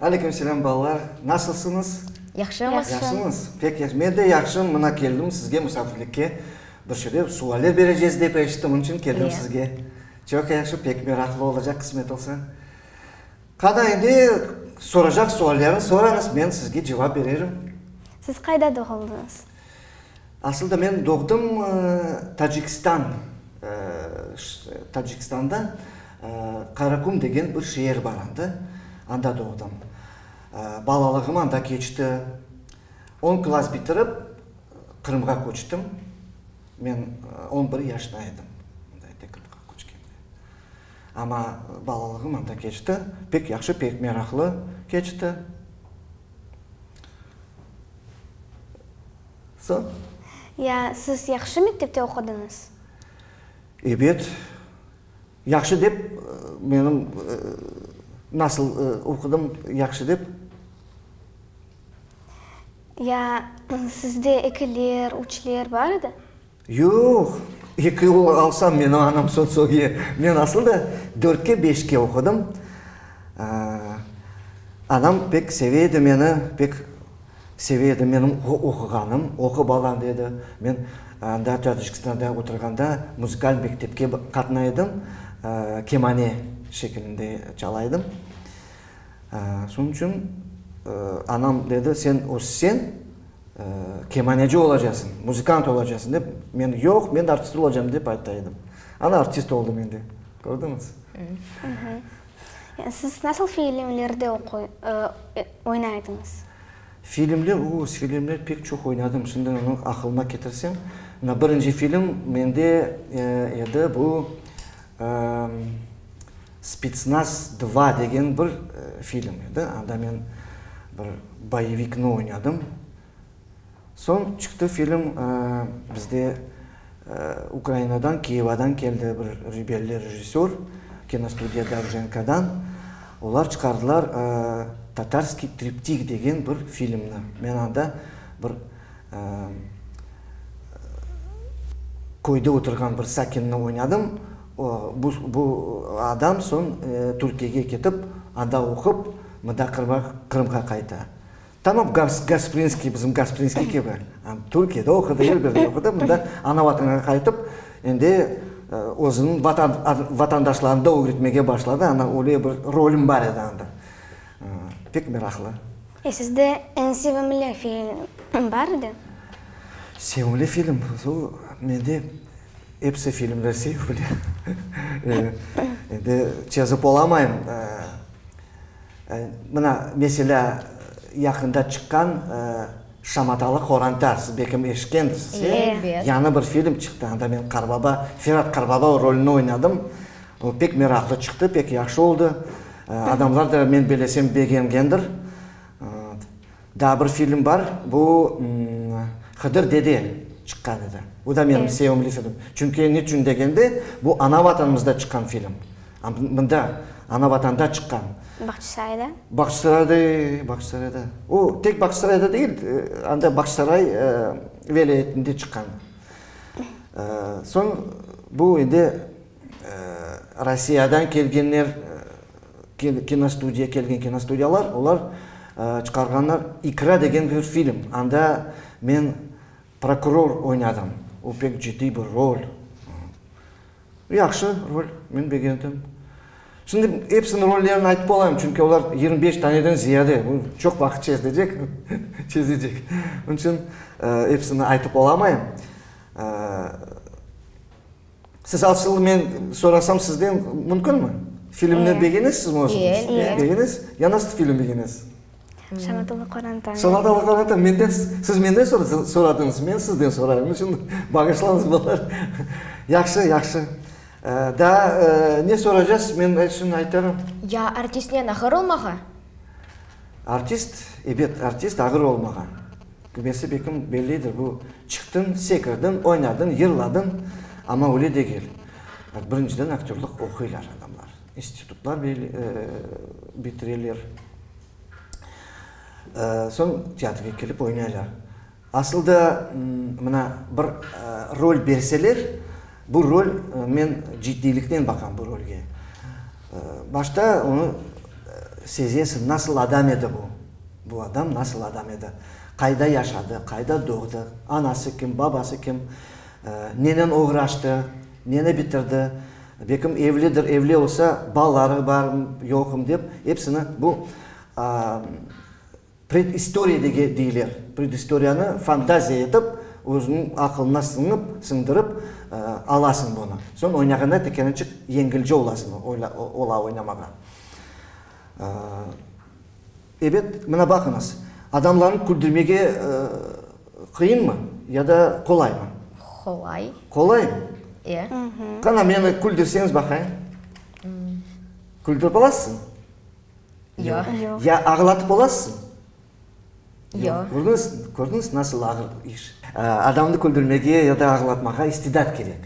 Aleyküm selam balalar, nasılsıñız? Yahşımız. Yahşımız? Pek yahşı, men de yahşım, mına keldim sizge musafirlikke. Bir şeyler, sualler berecez dep eşittim, onıñ içün keldim sizge. Çoq yahşı, pek meraqlı olacaq, qısmet olsa. Qana, endi soracaq suallerni sorañız, men sizge cevap bererim. Siz qayda doğuldınız? Asılda men doğdım Tacikistan, Tacikistanda Karakum degen bir şeer bar anda, anda doğdım. Balalığım anda keçti. On klass bitirip, Qırımğa köçtim. Men on bir yaşta edim anda ete Qırımğa köçkende. Amma balalığım anda keçti, pek yahşı, pek meraqlı keçti. Soñ? Ya, siz yahşı mektepte oqudıñız? Ebet, yahşı dep, menim nasıl oqudım, yahşı dep. Ya, sizde ekiler, üçler bar edi? Yoq, eki ul alsam, menim anam sotsiolge, men asıl da dörtke-beşke oqudım. Anam pek seve edi meni, pek seve edi menim oquğanım, oqu balam dedi. Men anda Tâcikistanda oturğanda muzıkal mektepke qatnay edim, kemane şekilinde çala edim. Şunıñ içün anam dedi, sen össeń, Kemaneci olacasıñ, muzıkant olacasıñ dep, men, yoq, men artist olacam dep ayta edim. Ana artist oldım endi. Kördiñiz? Siz nasıl filmlerde oynaydıñız? Filmler, o, filmler pek çoq oynadım. Şimdi onı aqılıma ketirsem. Mına birinci film mende edi, bu, Spetsnaz dva degen bir film edi, anda men bir boyevikni oynadım. Soñ çıqtı film, bizde Ukrainadan, Kıyevadan keldi bir rebelli rejissör, kinostudiya Dovjenkodan. Olar çıqardılar Tatarskiy triptik degen bir filmni. Men anda bir köyde oturğan bir sakinni oynadım. Bu bu adam soñ Türkiyege ketip, anda oqup, mında Qırıma Qırımğa qayta. Tamam, Gasprinskiy, bizim Gasprinskiy kibi, Türkiyede oqudı, er bir yerde oqudı, mında ana vatanına qaytıp, endi özüniñ vatan vatandaşlarını da ögretmege başladı, ana öyle bir rolüm bar edi anda. Pek meraqlı. E sizde eñ sevimli film bar edi? Sevimli film, mende Episi filmler sevimli. Endi çezip olamayım. Mına, meselâ, yaqında çıqqan Şamatalı qoranta, siz belkim eşitkendirsiz, e? Elbet. Yañı bir film çıqtı, anda men Qarbaba, Ferat Qarbaba rolüni oynadım. O pek meraqlı çıqtı, pek yahşı oldı. Adamlar da, men belesem, begengendir. Daa bir film bar, bu Hıdır dede çıqqan edi. Bu da menim sevimli filmim. Çünki niçün degende, bu ana Vatanımızda çıqqan film. Mında, ana Vatanda çıqqan. Bağçasarayda? Bağçasarayda, e, Bağçasarayda. O, tek Bağçasarayda degil, anda Bağçasaray vilâyetinde çıqqan. Soñ bu indi Rossiyadan kelgenler, kinostudiya, kelgen kinostudiyalar, olar çıqarğanlar İkra degen bir film. Anda men prokuror oynadım. O pek ciddiy bir rol. Yahşı rol, men begendim. Şimdi epsiniñ rollerini aytıp olmayım, çünki olar yigirmi beş taneden ziyade, bu çoq vaqıt çezlecek, çezecek. Onıñ içün epsini aytıp olamayım. Siz asıl men sorasam sizden mümkünmi? Filmni begenesiz mi? Begenesiz? Ya nasıl film begenesiz? Şamatalı qoranta. Şamatalı qoranta menden, siz menden soradıñız, men sizden sorayım. Onıñ içün bağışlañız bala. Yahşı, yahşı. Daa ne soracağız, men şimdi aytarım. Ya artistnen ağır olmağa? Artist, ebet, artist ağır olmağa. Tübesi bekim bellidir, bu çıqtıñ, sekirdiñ, oynadıñ, yırladıñ, amma öyle degil. Birinciden aktörlıq oquylar adamlar, institutlar bitireler, soñ teatrğa kelip oynaylar. Asılda mına bir rol berseler, bu rol, men ciddiyliknen baqam bu rolge. Başta onı sezesiñ, nasıl adam edi bu, Bu adam nasıl adam edi? Qayda yaşadı? Qayda doğdı? Anası kim? Babası kim? Nenen oğraştı? Neni bitirdi? Bekim evlidir, evli olsa, balaları barm, yoqm dep, epsini bu predistoriya deyiler. Predistoriyanı fantaziya etip, özüniñ aqılına sıñıp, siñdirip alasıñ bunı. Soñ oynağanda tekelençik yengilce olasıñ, ola oynamağa. Ebet, mına baqıñız, adamlarnı küldürmege qıyınmı ya da qolaymı? Qolay. Qolay? E. Qana, meni küldürseñiz baqayım. Küldürip olasızmı? Yoq. Ya ağlatıp olasızmı? Yoq. Kördiñiz, kördiñiz, nasıl ağır iş. Adamnı küldürmege ya da ağlatmağa istidat kerek.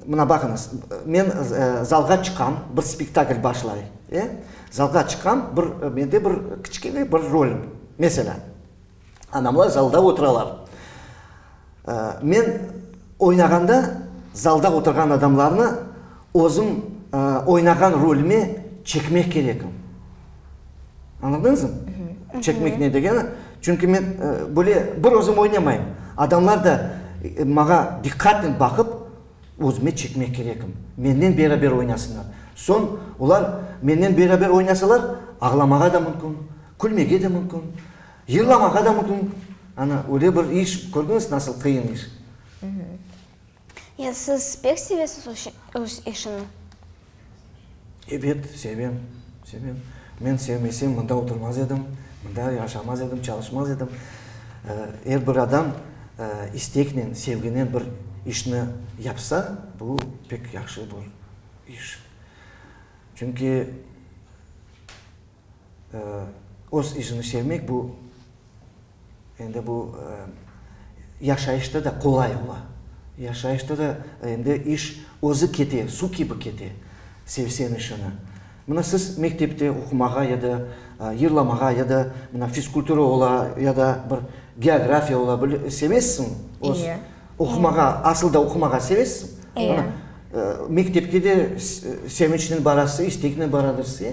Mına baqıñız, men zalğa çıqam, bir spektakl başlay, e, zalğa çıqam, bir, mende bir kiçkene bir rolim, meselâ, anamlar zalda oturalar. Men oynağanda zalda oturğan adamlarnı özüm oynağan rolime çekmek kerekim. Añladınızm? Çekmek ne degeni? Çünki men böyle bir özüm oynamayım. Adamlar da maña diqqatnen baqıp, özüme çekmek kerekim. Mennen beraber oynasınlar. Soñ olar mennen beraber oynasalar, ağlamağa da mümkün, külmege de mümkün, yırlamağa da mümkün. Ana, öyle bir iş, kördüñiz, nasıl qıyın iş? Ya siz pek sevesiz öz işini? Ebet, sevem, sevem. Men sevmesem, mında oturmaz edim, mında yaşamaz edim, çalışmaz edim. Er bir adam isteknen, sevginen bir işni yapsa, bu pek yahşı bir iş. Çünki. öz işini sevmek bu, endi bu yaşayışta da qolay ola. Yaşayışta da endi iş özü kete, suv kibi kete, sevseñ işini. Mına siz mektepte oqumağa ya da yırlamağa ya da mına fizkultura ola ya da bir geografiya ola, sevesiñ öz oqumağa, asıl da oqumağa sevesiñ. Mektepke de sevinçnen barasıñ, isteknen baradırsıñ.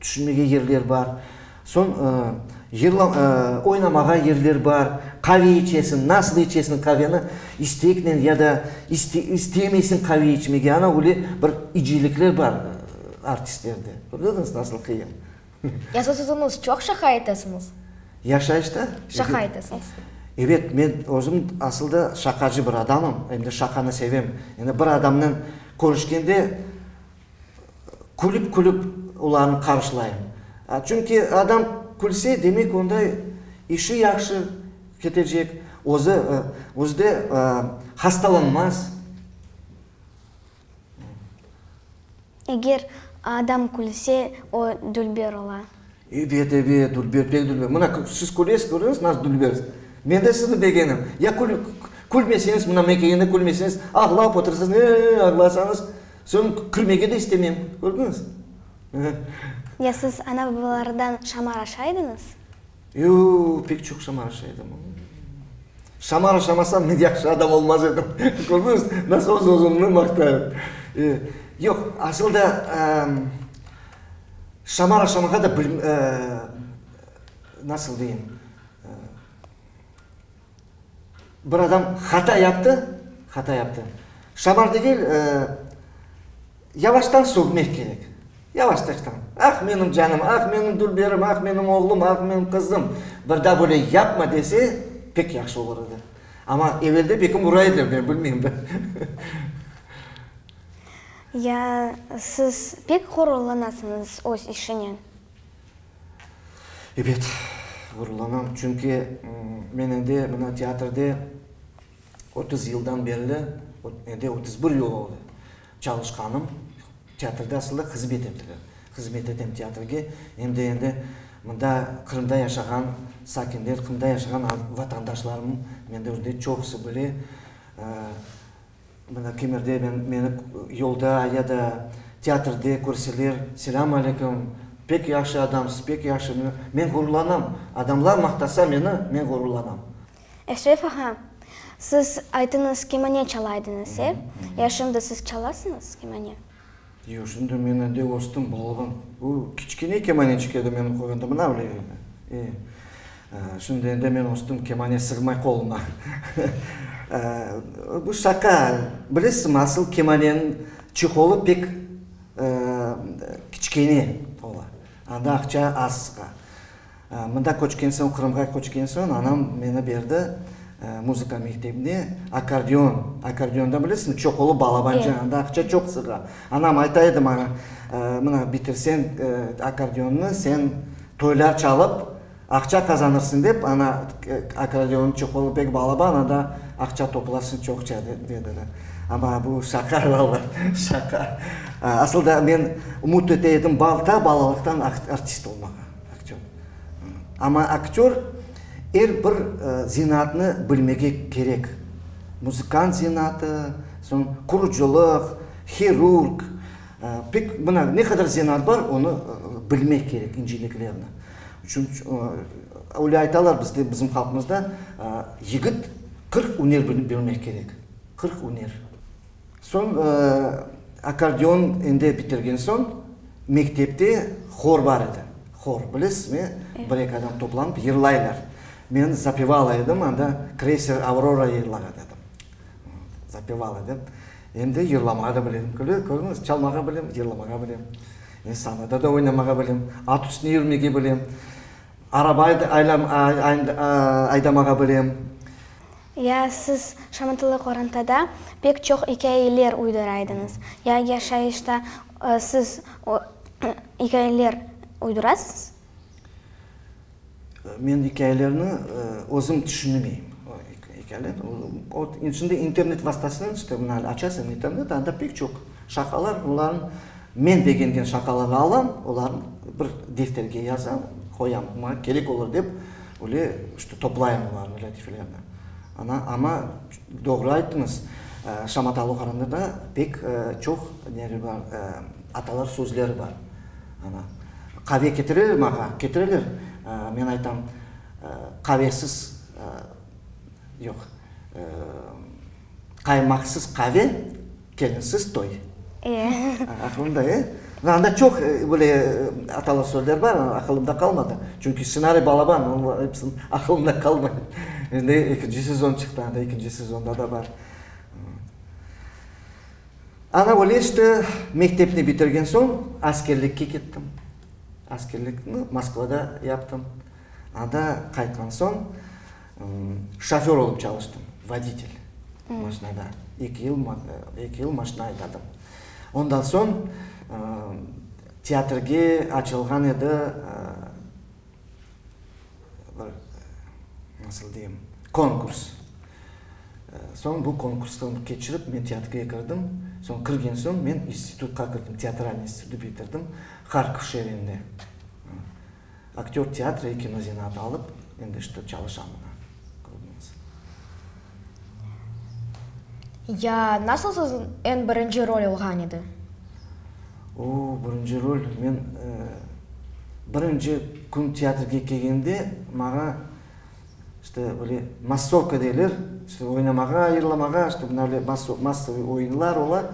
Tüşünmege yerler bar. Soñ yırlam, oynamağa yerler bar. Qave içesiñ, nasıl içesiñ qaveni, isteknen ya da iste, istemeysiñ qave içmege, ana öyle bir icilikler bar artistlerde. Kördiñiz, nasıl qıyın. Yazıtuvıñız çoq şaqa etesiñiz? Yaşayışta? Şaqa etesiñiz. Evet, men özüm asılda şaqacı bir adamım, endi şaqanı sevem. Endi bir adamnen körüşkende, Külip-külip olarnı qarşılayım. Çünki adam külse, demek, onda işi yahşı ketecek, özü, özü de hastalanmaz. Eger adam külse, o dülber ola. Ebet, ebet, dülber, pek dülber. Mına, siz külesiz, körüñiz, nasıl dülbersiz. Men de sizni begenim. Ya külmeseñiz, mına men kelgende külmeseñiz, ağlap otursañız, e-e-e, ağlasañız, soñ kirmege de istemem, kördiñiz. Ya siz ana-babalardan şamaraşa ediñiz? Yoo, pek çoq şamaraşa edim. Şamaraşamasam, men yahşı adam olmaz edim. Kördiñiz, nasıl öz-özümni maqtayım. Yoq, asıl da, Şamar aşamağa da bil, nasıl deyim, bir adam hata yaptı, hata yaptı. Şamar degil, yavaştan sögmek kerek. Yavaştan. Ah, menim canım, ah, menim dülberim, ah, menim oğlum, ah, menim qızım, bir daa böyle yapma dese, pek yahşı olur edi. Amma evelde belki ura ediler, men bilmeyim. Ya siz pek ğururlanasıñız öz işinen? Ebet, ğururlanam. Çünki men endi mına teatrde otuz yıldan berli, endi otuz bir yıl oldı çalışqanım. Teatrda asılda hızmet ettiler. Hızmet etem teatrge. Endi, endi mında Qırımda yaşağan sakinler, Qırımda yaşağan vatandaşlarım menden çoqusı bile. Mına Kemirde men, meni yolda ya da teatrde körseler, selâm aleykum, pek yahşı adamsız, pek yahşı, men, men ğururlanam. Adamlar maqtasa meni, men ğururlanam. Eşref ağa, siz aytıñız, kemane çala ediñiz, e? Ya şimdi siz çalasıñız kemane? Yoq, şimdi men ende östüm, balaban. Bu kiçkene kemaneçik edi men oqığanda, mına bile edi. E, şimdi ende men östüm, kemane sığmay qoluma. Bu şaqa, bilesinmi, asıl kemaneniñ çeholı pek kiçkene ola, anda aqça az sığa. Mında köçken soñ, Qırımğa köçken soñ anam meni berdi muzıka mektebine, akkordeon, akkordeonda bilesiñmi, çoqulu balabanca, anda aqça çoq sığa. Anam ayta edi maña, mına bitirseñ akkordeonnı, sen toylar çalıp aqça qazanırsıñ dep, ana akkordeon, çoqulu pek balaban, anda aqça toplarsıñ çoqça, dediler. Amma bu şaqa, balalar, şaqa. Asılda men ümüt ete edim, ta balalıqtan artist olmağa. Aktör. Amma aktör er bir zenaatnı bilmege kerek. Muzıkant zenaatı, soñ qurucılıq, hirurg, pek mına ne qadar zenaat bar, onı bilmek kerek, inceliklerni. Öyle aytalar bizde, bizim halqımızda, yigit qırq üner bilmek kerek, qırq üner. Soñ akkordeon endi bitirgen soñ, mektepte hor bar edi. Hor, bilesizmi? Bir-eki adam toplanıp yırlaylar. Men zapevala edim, anda Kreyser Avrora yırlağa dedim. Zapevala edim. Endi yırlamağa da bilem. Kördiñiz, çalmağa bilem, yırlamağa bilem. Endi sahnada da oynamağa bilem. At üstüne yürmege bilem. Araba aydamağa bilem. Ya siz şamatalı qorantada pek çoq ikâyeler uydıra ediñiz, ya yaşayışta siz ikâyeler uydurasız? Men ikâyelerni özüm tüşünemeyim. Şimdi internet vastasınen işte bunı açasan internet, anda pek çoq şaqalar, olarnı men begengen şaqalarnı alam, olarnı bir defterge yazam, qoyam, maña kerek olur dep. Öyle işte, toplayım olarnı, lâtifelerni. Ana, amma doğru ayttıñız, Şamat Alıqanında da pek çoq neler bar, atalar sözleri bar. Ana, qave ketireler maña, ketireler, men aytam, qavesiz, yoq, qaymaqsız qave, Kelinsiz toy. E. Aqılımda, e? Mı anda çoq böyle atalı sözler bar, aqılımda qalmadı. Çünki ssenariy balaban, onların hepsini aqılımda qalmay. Endi ekinci sezon çıqtı, anda ekinci sezonda da bar. Ana öyle işte, mektepni bitirgen soñ askerlikke kettim. Askerlikni Moskvada yaptım. Anda qaytqan soñ. Şoför olıp çalıştım, voditel maşinada. Eki yıl, eki yıl maşina aydadım. Ondan soñ teatrge açılğan edi, bir, nasıl deyim, konkurs. Soñ bu konkurstan keçirip, men teatrge kirdim. Soñ kirgen soñ men institutqa kirdim, teatralniy institutı bitirdim, Harkov şeerinde. Aktör teatr ve kino zenaatı alıp, endi işte çalışam mına. Ya nasıl siz eñ birinci rol alğan edi? Oo, birinci rol, men birinci kün teatrge kelgende maña işte böyle massovka deyler, işte oynamağa ayırılamağa, işte mına böyle massovıy oyunlar ola,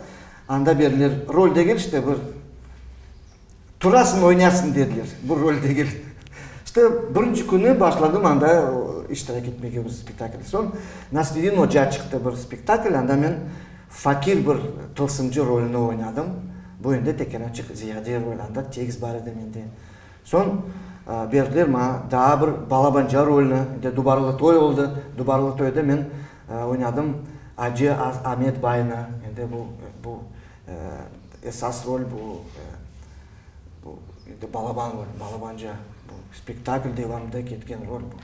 anda berilir rol degil işte bir Turasıñ, oynasıñ dediler. Bu rol degil. İşte, birinci künü başladım anda iştirak etmege bu spektaklde. Soñ Nasreddin oca çıqtı bir spektakl, anda men fakir bir tılsımcı rolüni oynadım. Bu endi tekerançıq ziyade rol, anda tekst bar edi mende. Soñ berdiler maña daa bir balabanca rolüni, endi Dubarlı toy oldı. Dubarlı toyda men oynadım Acı Amet baynı. Endi bu, bu Esas rol bu, bu endi balaban rol, balabanca. Bu spektakl devamında ketken rol bu.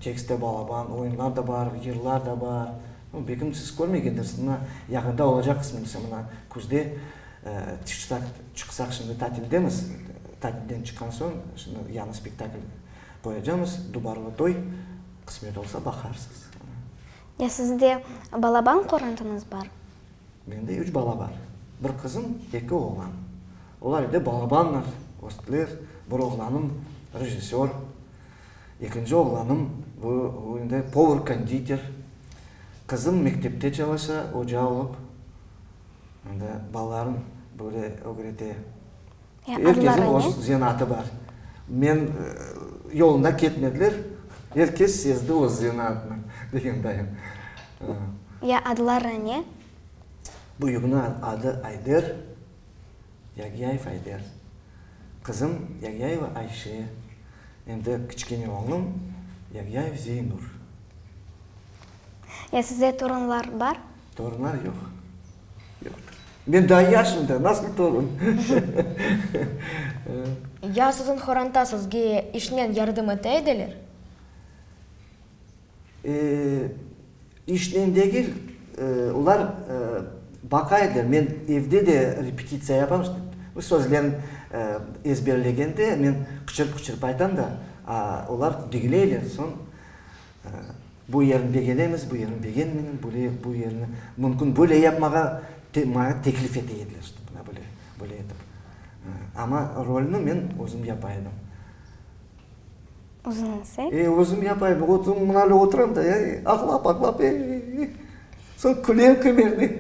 Tekst te balaban, oyunlar da bar, yırlar da bar. Bu belki siz körmegendirs, mına yaqında olacaq qısmınısı, mına küzde tışsaq, çıqsaq, şimdi tatildemiz, tatilden çıqqan soñ şimdi yañı spektakl qoyacamız, Dubarlı toy, qısmet olsa baqarsız. Ya sizde balaban qorantıñız bar? Mende üç bala bar, bir qızım, eki oğlan. Olar edi balabanlar, östler, bir oğlanım rejissör, ekinci oğlanım bu indi povur-konditer, qızım mektepte çalışa, oca olıp, indi balalarım böyle ögrete. Er kesin öz zenaatı bar. Men yolunda ketmediler, er kes sezdi öz zenaatını, degen dayım. Ya adları ne? Büyüginiñ adı Ayder, Yagiyayev Ayder. Qızım Yagiyayeva Ayşe, em de kiçkene oğlum Yagiyayev Zeynur. Ya size torunlar bar? Torunlar yoq. Yoqtır. Men daa yaşım da, nasıl torun? Ya siziñ qoranta sizge işnen yardım ete ediler? İşnen degil, olar baqa ediler. Men evde de repetitsiya yapam. Bu sözlerni ezberlegende men qıçırıp-qıçırıp aytam da, olar digleyler. Soñ Bu yerni begenemiz, bu yerni begenmeymiz, böyle, bu yerni mümkün böyle yapmağa maña teklif ete ediler, işte, mına böyle, böyle etip. Amma rolni men özüm yapa edim. Özüñiz, e? E, özüm yapa edim. Oturam, mına böyle oturam da, e, ağlap, ağlap, e, e, e. Soñ külem kümerde.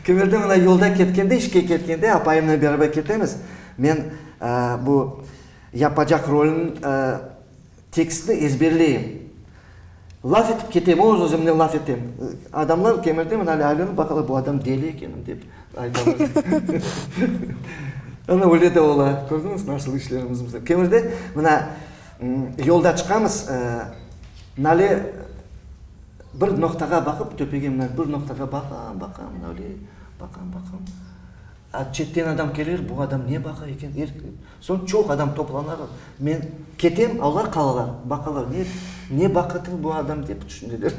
Kümerde mına yolda ketkende, işke ketkende apayımnen beraber ketemiz. Men bu yapacaq rolni Tekstni ezberleyim. Laf etip ketem, öz-özümnen laf etem. Adamlar kemirdemen ale aylanıp baqalar, bu adam deli ekenim dep aytalar. Ana, öyle de ola. Kördiñiz, nasıl işlerimiz bizim. Kemerde, mına, yolda çıqamız, nale bir noqtağa baqıp, töpege mına bir noqtağa baqam, baqam, nale, baqam, baqam. A çetten adam kelir, bu adam ne baqa eken? Soñ çoq adam toplanır, men ketem, olar qalalar, baqalar, ne, ne baqıtlı bu adam, dep tüşüneler.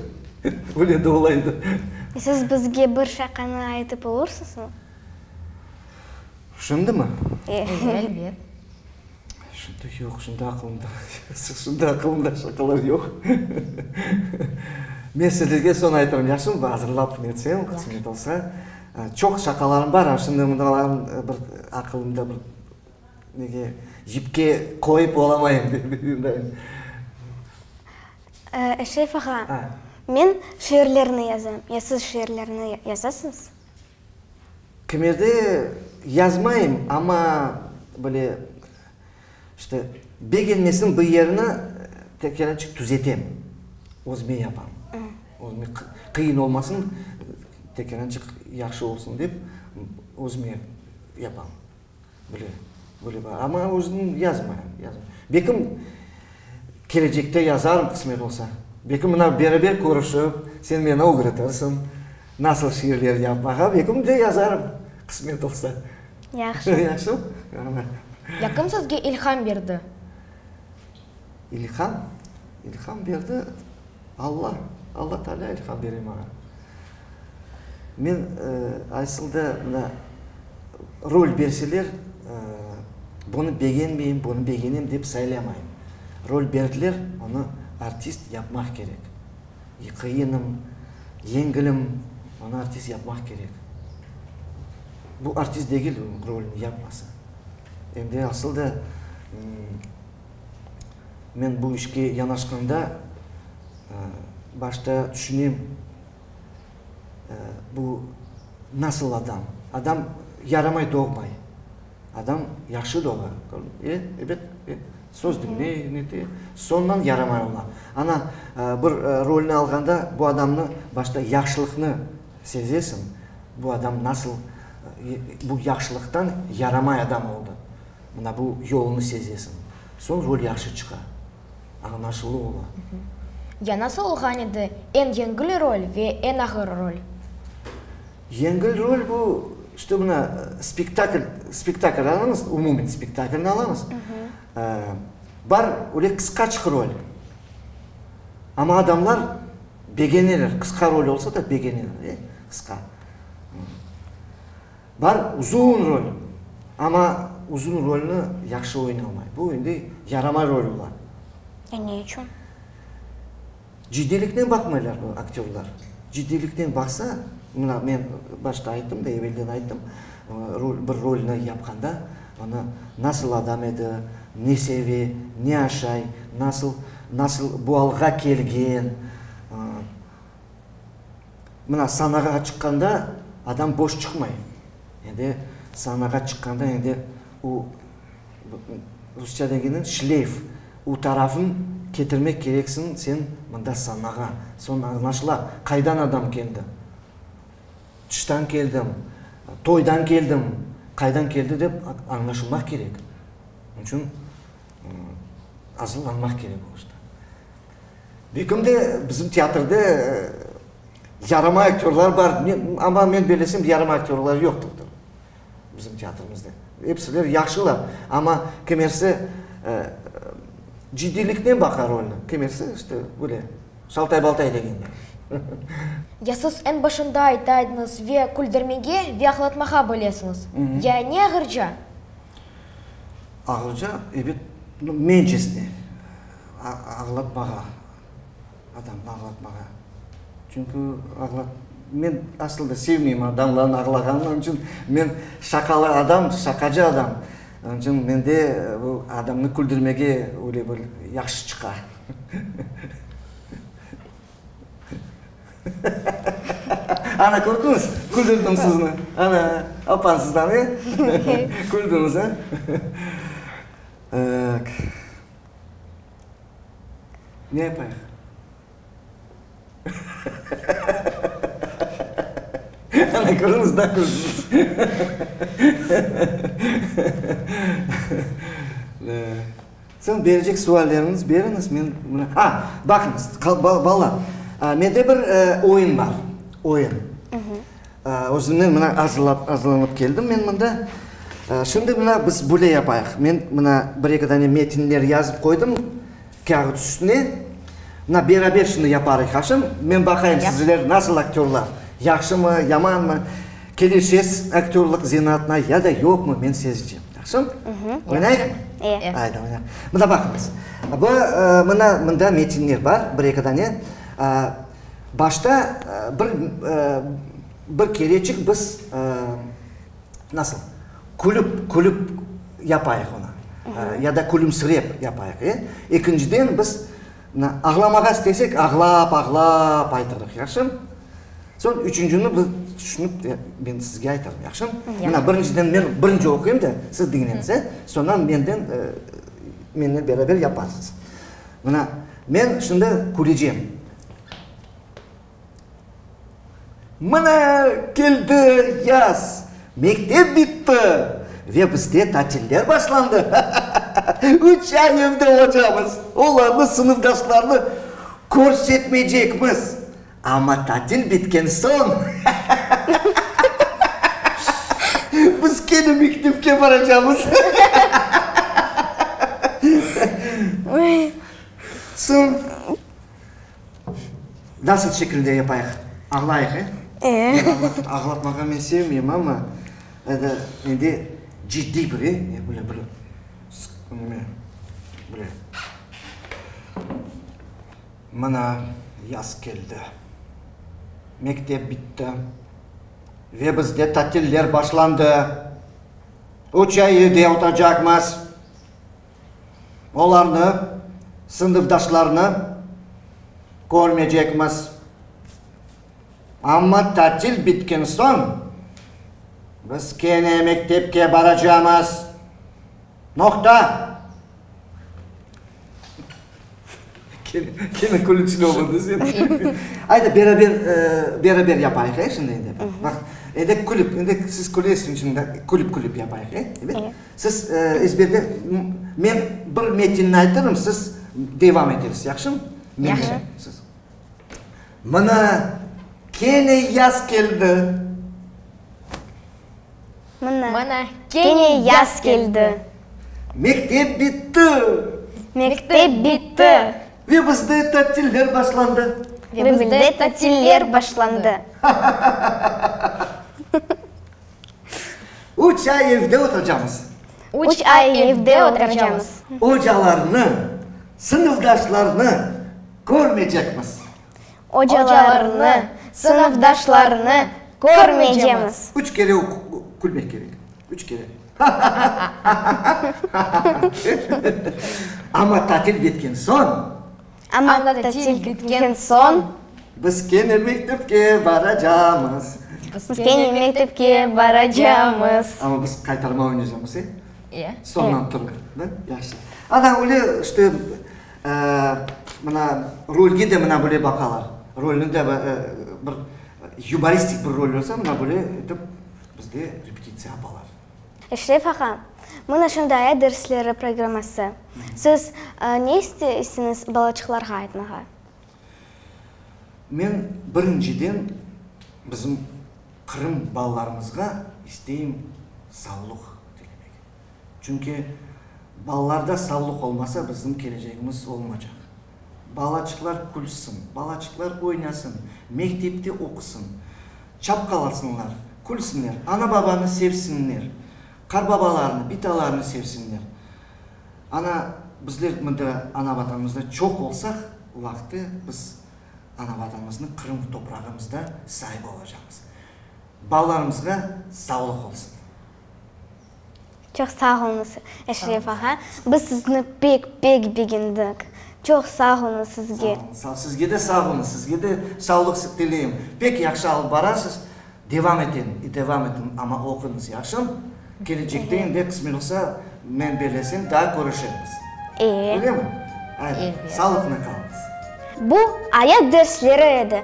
Öyle de olaydı. Siz bizge bir şaqanı aytıp olursızmı? Şimdimi? E. Elbet. Şimdi yoq, şimdi aqılımda, şimdi aqılımda şaqalar yoq. Men sizlerge soñ aytarım, yahşımı? Bir azırlap netsem, qısmet olsa. Çoq şaqalarım bar, şimdi mındalarnı bir aqılımda bir. Nege cipke qoyıp olamayım dep. Eşref ağa, men şiirlerni yazam, ya siz şiirlerni yazasız? Kimerde yazmayım, amma böyle, işte, begenmesin bir yerini, tekerançıq tüzetem, özüme yapam. Özüme qıyın olmasın, tekelençik yahşı olsun dep, özüme yapam. Böyle, böyle bar. Amma özüm yazmayım, yazmayım. Belkim, kelecekte yazarım, qısmet olsa. Belkim, mına beraber körüşip, sen meni ögretirsiñ, nasıl şiirler yapmağa, belkim de yazarım, qısmet olsa. Yahşı. Yahşımı? Yaqın sözge ilham berdi. İlham, ilham berdi Alla. Alla Taalâ ilham bere maña. Men asılda mına rol berseler, bunı begenmeyim, bunı begenem dep saylamayım. Rol berdiler, onı artist yapmaq kerek. Qıyınım, yengilim, onı artist yapmaq kerek. Bu artist degil, rolünü yapmasa. Endi asılda Men bu işke yanaşqanda başta tüşünem, bu nasıl adam. Adam yaramay doğmay. Adam yahşı doğa. E, ebet, e, söz diñley, nete, soñdan yaramay ola. Ana, bir rolni alğanda bu adamnı başta yahşılıqnı sezesiñ, bu adam nasıl, bu yahşılıqtan yaramay adam oldı. Mına bu yolnı sezesiñ. Soñ rol yahşı çıqa. Añlaşılı ola. Ya nasıl olğan edi, eñ yengil rol ve eñ ağır rol? Yengil rol bu, işte mına spektakl, spektakl alıñız, umumen spektaklni alıñız. Bar öyle qısqaçıq rol. Amma adamlar begeneler, qısqa rol olsa da begeneler, qısqa. Bar uzun rol, amma uzun rolni yahşı oynamay. Bu endi yaramay rol ola. E, ne içün? Ciddiyliknen baqmaylar bu aktyorlar. Ciddiyliknen baqsa, mına men başta ayttım da, evelden ayttım, rol, bir rolni yapqanda, onı nasıl adam edi, ne seve, ne aşay, nasıl, nasıl bu alğa kelgen, Mına sanağa çıqqanda adam boş çıqmay. Endi sanağa çıqqanda endi o rusça degenniñ şleyf, o tarafın ketirmek kereksiñ sen mında sanağa. Soñra añlaşıla, qaydan adam keldi. Tıştan keldim, toydan keldim, qaydan keldi dep añlaşılmaq kerek. Onıñ içün azırlanmaq kerek o işte. Begimde bizim teatrda yarama aktyorlar bar, amma men bellesem yarama aktyorlar yoqtır bizim teatrımızda. Epsiler yahşılar, amma kimersi ciddiyliknen baqa rolni, kimersi işte böyle şaltay-baltay degenler. Ya siz eñ başında ayta ediñiz, ve küldürmege ve ağlatmağa bilesiñiz, ya ne ağırca? Ağırca, ebet, mencesine. Ağlatmağa, adamnı ağlatmağa. Çünki ağlat, men asıl da sevmeyim adamların ağlağanını, onıñ içün men şaqalı adam, şaqacı adam, onıñ içün mende bu adamnı küldürmege öyle bir yahşı çıqa. Ana, kördiñiz, küldürdim sizni, ana, apansızdan, e? Küldüñiz, a? Aq. Ne yapayıq? Ana, körüñiz, da küldünüz. Soñ berecek suallerniz beriñiz, men mına, a, baqıñız, balalar, mende bir oyun bar, oyun. Özümnen mına azırlap, azırlanıp keldim men mında. Şimdi mına biz böyle yapayıq, men mına bir-eki dane metinler yazıp qoydım kâğıt üstüne. Mına beraber şimdi yaparıq aşım. Men baqayım sizler nasıl aktyorlar, yahşımı, yamanmı, kelişesiz aktyorlıq zenaatına ya da yoqmı, men sezeceğim. Yahşım? Oynayıqmı? İyi. Ayda oynayıq. Mına baqıñız, bu mına mında metinler bar bir-eki dane. Başta bir bir kereçik biz nasıl, külüp, külüp yapayıq onı, ya da külümsirep yapayıq, e. Ekinciden biz ağlamağa istesek, ağlap, ağlap aytırıq, yahşımı? Soñ üçüncini biz tüşünip, men sizge aytarım, yahşımı? Mına, birinciden men birinci oquyım da, siz diñleñiz, e. Soñdan menden, menden beraber yaparsız. Mına. Men şimdi kürecem. Mına, keldi yaz, mektep bitti ve bizde tatiller başlandı. Üç ay evde olacağımız, olarnı, sınıfdaşlarnı körsetmeycekmiz. Amma tatil bitken soñ biz kene mektepke baracamız. Soñ nasıl şekilde yapayıq, ağlayıq, e? E. Ağlatmağa men sevmeyim, amma endi ciddiy bir, e, böyle bir neme, böyle. Mına, yaz keldi, mektep bitti ve bizde tatiller başlandı. Üç ay evde oturacaqmız. Olarnı, sınıfdaşlarnı körmeycekmiz. Amma tatil bitken soñ biz kene mektepke baracamız. Noqta! Kene külücli oldı sen. Aydı, beraber, beraber yapayıq, e, şimdi endi. Baq, endi külip, endi siz külesiñ içün külip, külip yapayıq, e, evet? Siz ezberden, men bir metinni aytırım, siz devam etersiz, yahşımı? Yahşı. Mına, kene yaz keldi. Mına. Mına kene yaz keldi. Mektep bitti. Mektep bitti. Ve bizde tatiller başlandı. Ve bizde tatiller başlandı. Üç ay evde oturcamız. Üç ay evde oturcamız. Ocalarnı, sınıfdaşlarnı körmeycekmiz. Ocalarnı, sınıfdaşlarnı körmeycemiz. Üç kere külmek kerek. Üç kere. Amma tatil bitken soñ. Amma tatil bitken soñ. Biz kene mektepke baracamız. Biz kene mektepke baracamız. Amma biz qaytarma oynaycamız, e? Soñdan turıp. Yaxşı. Ana, öyle işte. Mına rolge de mına böyle baqalar. Rolni de bir yumoristik bir rol olsa, mına böyle etip bizde repetitsiya yapalar. Eşref ağa, mına şundaya dersleri programması. Siz ne isteysiñiz balaçıqlarğa aytmağa? Men birinciden bizim Qırım balalarımızğa isteyim savlıq tilemek. Çünki balalarda savlıq olmasa, bizim kelecegimiz olmacaq. Balaçıqlar külsin, balaçıqlar oynasın, mektepte oqusın, çapqalasınlar, külsinler, ana-babanı sevsinler, qarbabalarnı, bitalarnı sevsinler. Ana, bizler mında ana-Vatanımızda çoq olsaq, o vaqıtı biz ana-Vatanımıznı Qırım toprağımızda sahibi olacaqmız. Balalarımızğa savlıq olsun! Çoq sağ oluñız, Eşref ağa. Biz sizni pek, pek begendik. Çoq sağ oluñız sizge. Sağ oluñız, sağ oluñız. Sizge de sağ oluñız. Sizge de savlıq tileyim. Pek yahşı alıp barasız. Devam eteñ i devam etiñ, amma oquñız, yahşım? Kelecekte endi, qısmet olsa, men belesem, daa körüşermiz. Öyle mi? Ayda, sağlıqnen qalıñız. Bu, ayat dersleri edi.